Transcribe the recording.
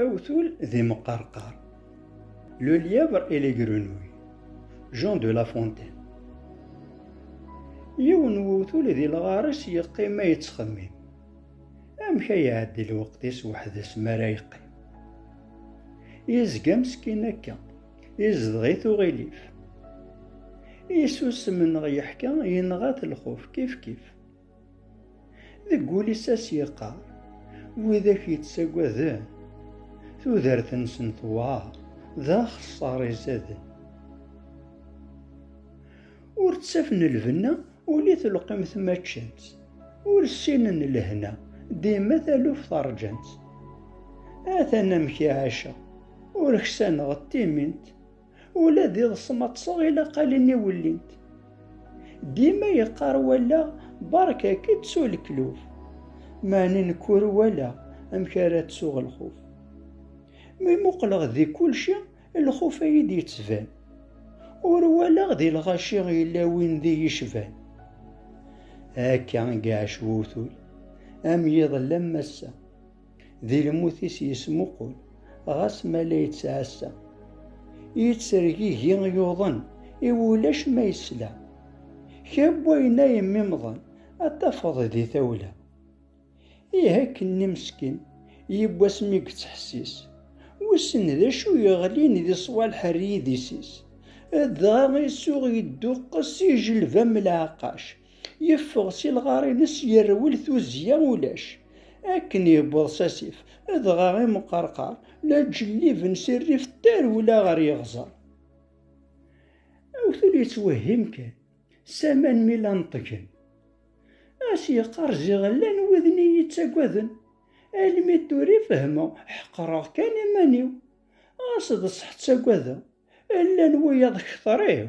Awtul d imqerqar. Le lièvre et les grenouilles. Jean de La Fontaine. Yiwen wewtul di lɣar-is yeqqim ma yettxemmim. Amek ay iɛeddi lweqt-is weḥd-s mi ara yeqqim? Yezga meskin akka, yezdeɣ-it uɣilif. Isusem neɣ yeḥka, yenɣa-t lxuf kifkif. Deg wul-is a s-yeqqar, widak yettagaden, tudert-nsen tewɛer, d axeṣṣar izaden. Ur ttafen lbenna, ul i telqimt ma ččan-tt, ur ssinen lehna, dima taluft rǧan-tt. Atan amek i ɛiceɣ, ur ksaneɣ timint, Ula d iḍes ma ṭṭseɣ ilaqalen i wellint. Dima yeqqar wallaɣ berka-k ttu lekluf. Meɛna nekk ur walaɣ amek ara ttuɣ lxuf. Mi muqleɣ di kulci lxuf a yi-d-yettban. Ur walaɣ di lɣaci yella win d iyi-cban. Akka i iɛac wewtul am yiḍelli am wass-a. Di lmut-is yesmuqul, ɣas ma la yettɛassa. I yettergigi yuḍen, i wulac ma yesla. Kra n wayen ay yemmimḍen, ad tafeḍ di tawla. Ih akken-nni meskin, yiww asmi yettḥessis. Wissen d acu yeɣlin di ṣwalḥer n yidis-is. Dɣa isuɣ yedduqqes ijelbam n lɛeqqac, Yeffeɣ si lɣar-ines yerwel tuzzya ulac. Akken yewweḍ s asif, dɣa imqerqar la ǧelliben si rrif d tarewla ɣer yeɣẓer. Awtul yettwehhim kan, s aman mi la neṭgen. A s-yeqqar ziɣ llan widen i yi-ittagaden. Almi d tura i fehmeɣ, ḥeqreɣ kan iman-iw. Ɣas d ṣṣeḥ ttagadeɣ, llan wiyaḍ kter-iw.